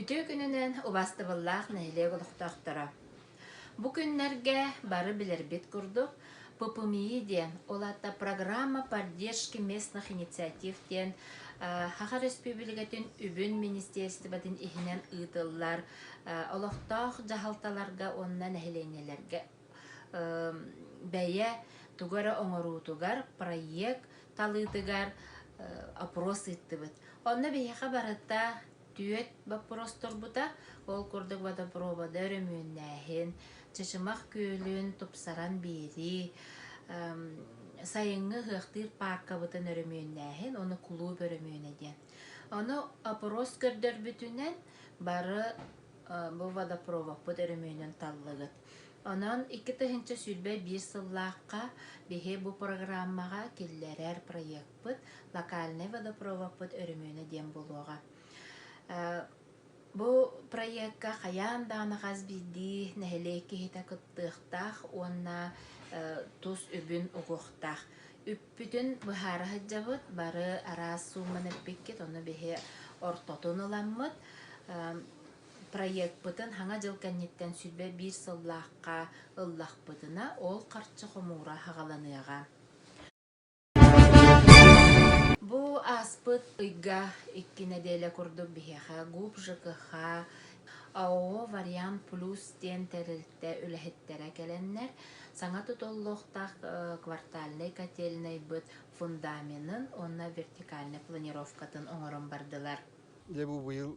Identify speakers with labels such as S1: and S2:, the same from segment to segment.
S1: Үтүө күнүнэн убастыбыллаах нэһилиэк олохтоохторо! Бу күннэргэ бары билэрбит курдук ППМИИ диэн, ол аата программа поддержки местных инициатив диэн Саха Республикатын Үбүн министерствотын иһинэн ыытыллар олохтоох дьаһалталарга уонна нэһилиэнньэлэргэ бэйэ тугу эрэ оҥоруутугар проект талыытыгар опрос ыыттыбыт. Онно биһиэхэ барыта түөрт боппуруос турбута. Ол курдук водопроводы өрөмүөннээһин, Чычымах күөлүн тупсаран биэрии, сайыҥҥы ыһыахтыыр пааркабытын өрөмүөннээһин, ону кулууп өрөмүөнэ диэн. Ону опрос көрдөрбүтүнэн бары бу водопровокпут өрөмүөнүн таллыгыт. Онон икки тыһыынча сүүрбэ биир сыллаахха биһи бу программаҕа киллэрэр проекпыт «Локальный водопроводпыт өрөмүөнэ» диэн буолуоҕа. Бу проекка хайаан даҕаны хас биирдии нэһилиэк киһитэ кыттыахтаах уонна тус үбүн угуохтаах. Үппүтүн быһаара сылдьабыт, бары араас суумманы эппиккит, ону биһи ортотун ыламмыт. Проекпытын Хаҥа дьыл кэнниттэн сүлбэ биир сыллаахха ыллахпытына, ол харчы хомуура аҕаланыаҕа. Бу ааспыт ыйга икки нэдиэлэ курдук биһиэхэ ГУП ЖКХ АО «Вариант Плюс» диэн тэрилтэ үлэһиттэрэ кэлэннэр, саҥа тутуллуохтаах квартальнай котельнайбыт фундаменын уонна вертикальнай планировкатын оҥорон бардылар. Дьэ бу быйыл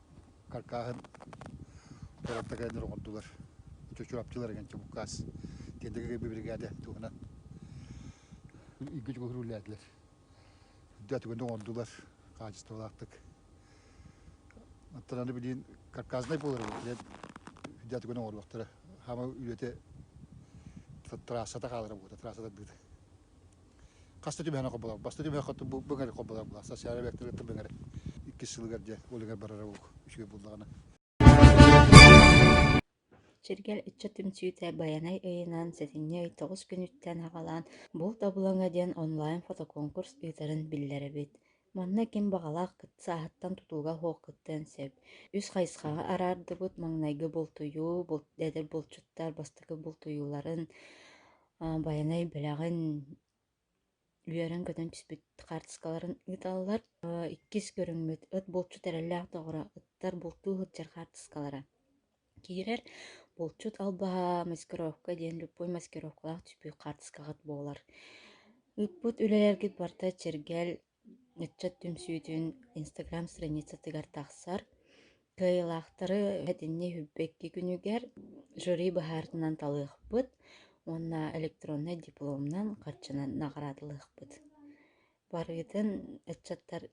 S1: каркааһын куораттарга аны оргордулар. Чочуапчылар эҥэнчэ буккаас. Тиэндэгэ биригаде туһунан ийгүтүк уһуруулээтилэр. Үрдэ түгэнде оҥордулар хаачыстыбалаахтык. Оттон аны билин карказнай буолар эбит. Дьэ үрдэ түгэн оҥоруохтара. Хаама үлэте трассата хаалара буолута, трассата дыыта. Хаста түбэһэн хоболор, баста түбэһэн быгар хоболор була, социальный объектар кытта быгар иккис сылыгар дьэ олегар барара ук үчүгэй буллаҕына. Сиргэл ыччат түмсүүтэ Байанай ыйынан сэтинньи ый тоҕус күнүттэн аҕалаан «Булт обулаҥа» диэн онлайн фотоконкурс ыытарын биллэрэбит. Манна ким баҕалаах кыт сааһыттан тутууга суох кыттыан сөп. Үс хайысхаҕа араардыбыт маҥнайгы бултуйуу, булт, дэдэр булчуттар бастакы бултуйууларын, байанай бэлэҕин үөрэн-көтөн түспүт хаартыскаларын ыыталлар. иккис көрүҥмүт ыт булчут эрэллээх доҕоро ыттар бултуу сылдьар хаартыскалара киирэр. Булчут албаһа маскировка диэн любой маскировкалаах түспүт хаартыскаҕыт буолар. Ыппыт үлэлэргит барыта чэргэл Ыччат түмсүүтүн инстаграм страницатыгар тахсар. Кыайыылаахтары этинни иһирбэкки күнүгэр жюри быһаарытынан талыахпыт уонна электроннай дипломунан харчынан наҕараадалыахпыт. Барыытын ыччаттар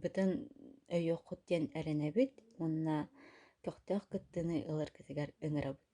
S1: бытын өйүөххут диэн эрэнэбит уонна көхтөөх кыттыыны ыларгытыгар ыҥырабыт.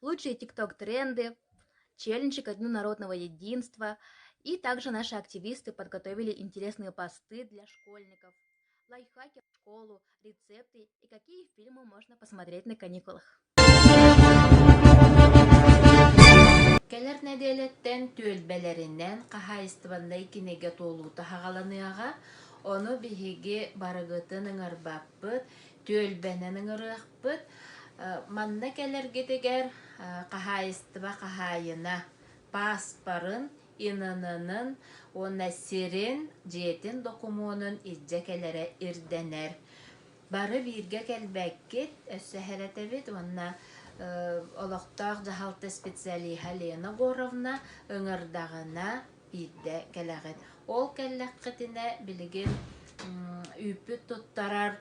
S1: лучшие тикток тренды челлендж народного единства и также наши активисты подготовили интересные посты для школьников лайфхаки в школу рецепты и какие фильмы можно посмотреть на каникулах Кэлэр нэдиэлэттэн түөлбэлэринэн хаһаайыстыбаннай кинигэ туолуута хаҕаланыаҕа. Ону биһиги барыгытын ыҥырбаппыт, түөлбэнэн ыҥырыахпыт. ыыппыт. Манна кэлэргитигэр хаһаайыстыба хаһаайына пааспарын, ИНН-ын уонна сирин, дьиэтин докумуонун илдьэ кэлэрэ ирдэнэр. Бары бииргэ кэлбэккит, өссө эһэрэтэбит уонна олохтоох дьаһалта специалиһа Лена Егоровна ыҥырдаҕына иирдэ кэлэҕин. Ол кэллэххитинэ билигин үүппүт туттарар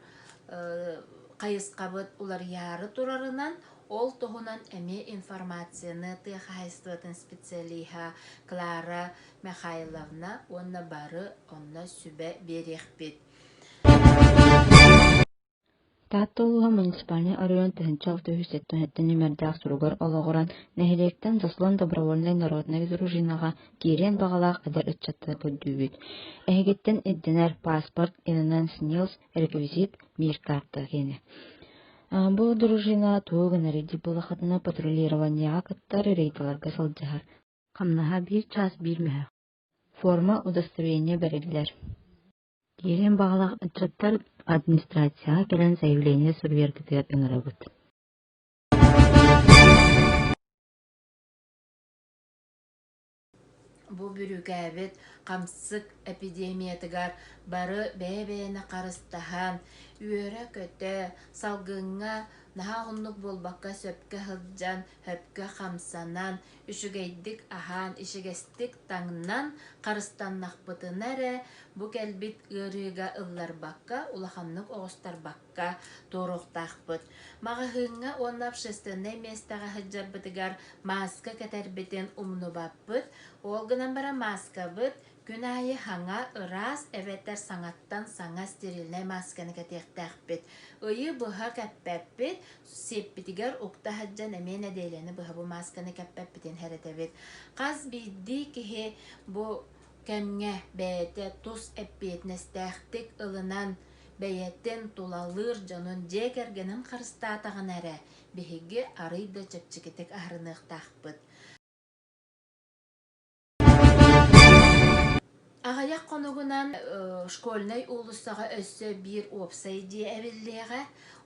S1: хайысхабыт уларыйаары турарынан, ол туһунан эмиэ информацияны тыа хаһайыстыбатын специалиһа Клара Михайловна уонна бары онно сүбэ биэриэхпит. Таатта улууһа муниципальнай оройуон тыһыынча алтыһыыс сэттэ уонча нүмердээх суругар олоҕуран, нэһилиэктэн Дослон добровольнай народнай дружинаҕа киириэн баҕалаах эдэр ыччаттары көрдүүбүт. Эһигиттэн ирдэнэр паспорт Illinois Snills реквизит, биир каарта киэнэ. Бу дружина тугу гына рейдик буолахатына патрулированиеҕа кыттар рейдаларга сылдьар. Хамнаһа биир чаас биир мөһө. Форма удостоверения бэриллэр. Киирин баҕалаах ыччаттар администрацияҕа кэлэн заявление суруйаргытыгар ыҥырабыт Бу бүрүкээбит хамсык эпидемиятыгар бары бэйэ-бэйэни харыстаһан, үөрэ-көтө, салгыҥҥа наһаа уһуннук буолбакка сөпкө сылдьан, сөпкө хамсанан, Үчүгэйдик аһаан ичигэстик таҥнан харыстаннахпытына эрэ, бу кэлбит ыарыыга ылларбакка, улаханнык оҕустарбакка туоруохтаахпыт. Маҕаһыыҥҥа уонна общественнай миэстэҕэ сылдьарбытыгар мааска кэтэрбитин умнубаппыт. Ол гынан баран мааскабыт күн аайы хаҥа, ыраас эбэтэр саҥаттан саҥа стерильнай маасканы кэтиэхтээхпит. Ыйы быһа кэппэппит, Сиэппитигэр укта сылдьан эмиэ нэдиэлэни быһа бу маасканы кэппэппитин сэрэтэбит. Хас биирдии киһи бу кэмҥэ бэйэтэ тус эппиэтинэстээхтик ылынан, бэйэтин тулалыыр дьонун дьиэ кэргэнин харыстаатаҕына эрэ, биһиги арыый да чэпчэкитик аһарыныахтаахпыт. Аҕыйах хонугунан школьнай уулуссаҕа өссө биир уопсай дьиэ эбиллиэҕэ.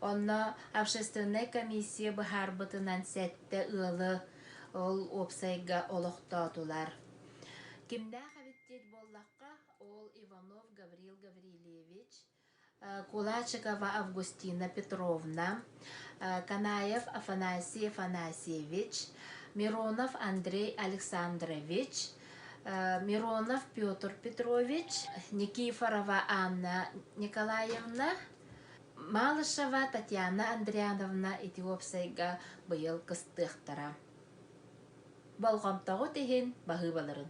S1: Онно общественнай комиссия быһаарбытынан сэттэ ыалы ол уопсайга олохтоотулар. Кимнээх эбит диит буоллахха, ол Иванов Гаврил Гаврильевич, кулачикова августина петровна канаев афанасий афанасьевич миронов андрей александрович миронов петр петрович никифорова анна николаевна малышева татьяна андриановна ити уопсайга быйыл кыстыахтара болҕомтоҕут иһин баһыыбаларын